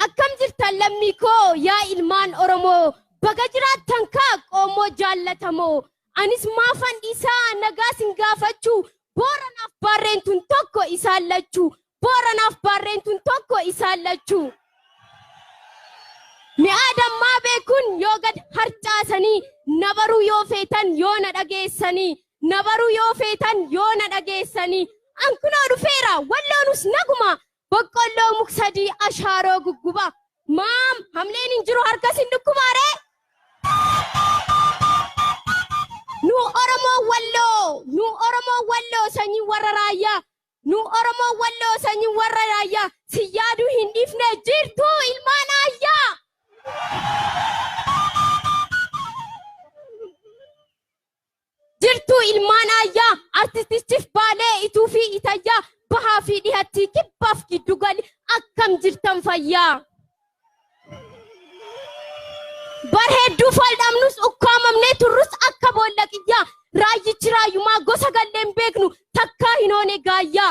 Akkam jirtan lammii koo yaa ilmaan Oromoo baga jiraattan kaa qoomoo jaallatamoo anis maafan dhiisaa nagaa sin gaafachuu Booranaaf Baarreen tun tokko isaan lachuu Booranaaf Baarreen tun tokko isaan lachuu Mi'aa dammaa beekun yoo gad harcaasanii na baruu yoo feetan yoo na dhageessanii na baruu yoo feetan yoo na dhageessanii an kunoo dhufeera walloonus naguma Boqqolloo muk sadii ashaaroo gugguba. Maam hamleen hin jiru harkas hin dhukkubaaree. Nu Oromoo Walloo, nu Oromoo Walloo sanyii warra raayyaa, nu Oromoo Walloo sanyii warra raayyaa, si yaaduu hin dhiifne jirtuu ilmaan aayyaa. Jirtuu ilmaan aayyaa artistichif baalee ituu fi itayyaa bahaa fi dhihattii kibbaaf giddu gali akkam jirtan fayyaa. Bar hedduu faldhamnus ukkaamamnee turrus akka boolla qiyyaa raayyichi raayyumaa gosa galleen beeknu takkaa hin hoone gaayyaa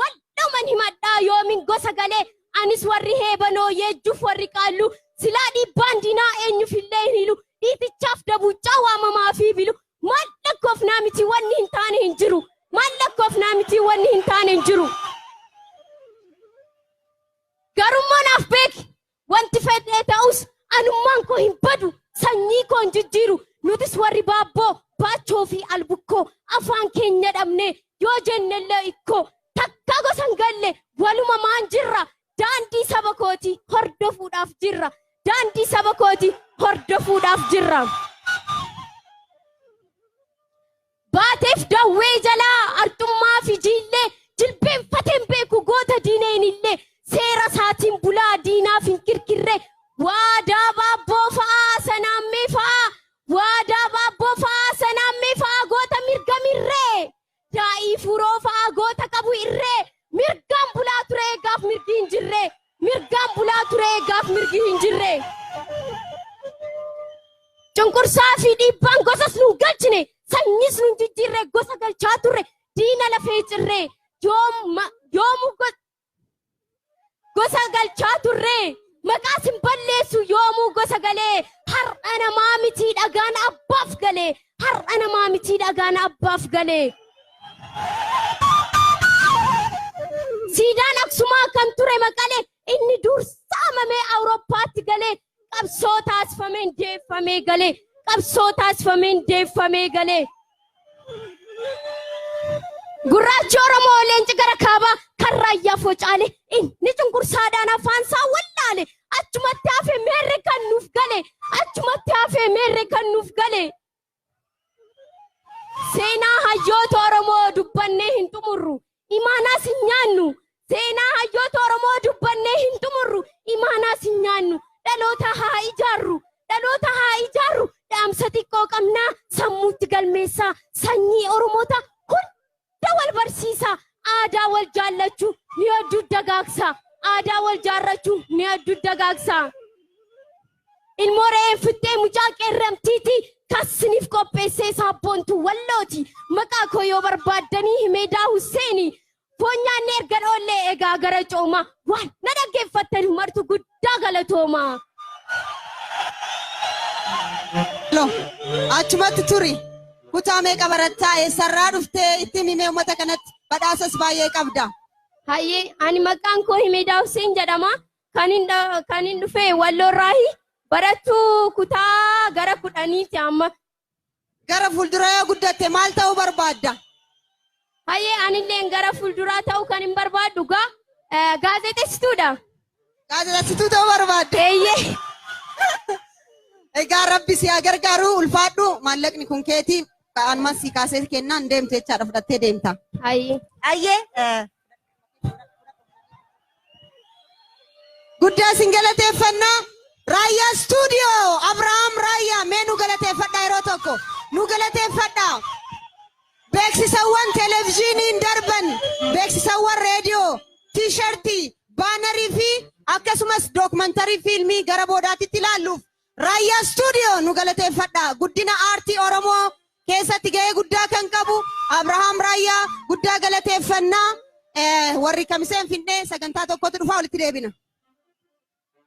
Waldhuman himadhaa yoomin gosa galee Anis warri heebanoo yeejjuuf warri qaalluu Silaa dhiibbaan diinaa eenyufillee hin hilu Dhiitichaaf dabuuccaa waamamaa fi bilu Maal lakkoofnaa mitii wanni hin taane hin jiru Maal lakkoofnaa mitii wanni hin taane hin jiru Garummoo naaf beeki Wanti fedhee ta'us anummaan koo hin badu, sanyii koo hin jijjiiru. Nutis warri baabboo, baachoo fi albukkoo afaan keenya dhabnee yoo jennellee ikkoo takka gosa hin galle walumamaan jirra. Daandii saba kooti hordofuudhaaf jirra. Daandii saba kooti hordofuudhaaf jirra. Baateef dawwee jalaa arxummaa fi jiillee jilbeenfatee hin beeku goota diineen illee seera isaatiin bulaa diinaaf hin kirkirre waadaa baabboo fa'aa sanaammee fa'aa waadaa baabboo fa'aa sanaammee fa'aa goota mirga mirree daa'ii fuuroo fa'aa goota qabu irree mirgaan bulaa ture eegaaf mirgi hin jirre Mirgaan bulaa ture gaaf mirgi hin jirre. Cunqursaa fi dhiibbaan gosas nun galchine sanyiis nun jijjiirre gosa galchaa turre diina lafee cirre yoomu gosa galchaa turre maqaas hin balleessu yoomuu gosa galee har'a namaa mitii dhagaan abbaaf galee Har'a namaa mitii dhagaan abbaaf galee. Siidaan Aksumaa kan ture Maqalee inni dur saamamee Awurooppaatti galee qabsoo taasifameen deeffamee galee qabsoo taasifameen deeffamee galee. Gurraachi Oromoo leenci gara kaabaa kan raayyaa focaale inni cunqursaadhaan afaan isaa wallaale achumatti hafe meerre kan nuuf gale achumatti hafe meerre kan nuuf gale seenaa hayyoota oromoo dubbannee hin xumurru imaanaas hin nyaannu seenaa hayyoota oromoo dubbannee hin xumurru imaanaas hin nyaannu dhaloota haa ijaarru dhaloota haa ijaarru dhaamsa xiqqoo qabnaa sammuutti galmeessaa sanyii oromoota Dugda wal barsiisaa, aadaa wal jaallachuu ni addu dagaagsaa, aadaa wal jaarrachuu ni addu dagaagsaa. Ilmoo re'een fixxee mucaa qeerramtiiti, kan siniif qopheessee saabboontuu Wallooti. Maqaa koo yoo barbaaddanii Himeedaa Husseeni. Foon nyaannee ergan oollee egaa gara coomaa. Waan na dhaggeeffattanu martu guddaa. guddaa galatooma. No. Achumatti turi. Kutaa meeqa barattaa eessarraa dhuftee itti himimee uummata kanatti badhaasas baay'ee qabda. Hayyee ani maqaan koo Himeedaa Hussein jedhama. Kan hin dha- kan hin dhufe Walloorraahi. Barattuu kutaa gara kudhaniiti amma. Gara fuuldura yoo guddatte maal ta'uu barbaadda? Hayyee anilleen gara fuulduraa ta'uu kan hin barbaaddu gaa eh, gaazexessituudha. Gaazexessituu ta'uu barbaadda? Eeyyee. Egaa rabbi si haa gargaaru ulfaadhu maallaqni kun keeti ka'aanuma si kaasee kennaan deemte jechaadha fudhattee deemta. Hayyee. Ayyee Guddaa isin galateeffannaa. Raayyaa stuudiyoo Abrahaam Raayyaa mee nu galateeffadhaa yeroo tokko nu galateeffadhaa. Beeksisawwan televezyiiniin darban, beeksisawwan reediyoo, tiishartii, baanarii fi akkasumas dookmantarii fiilmii gara boodaatitti ilaalluuf Raayyaa Studio nu galateeffadha. Guddina aartii Oromoo keessatti gahee guddaa kan qabu Abrahaam Raayyaa guddaa galateeffanna. Eh, Warri Kamiseen Finnee sagantaa tokkotu dhufaa walitti deebina.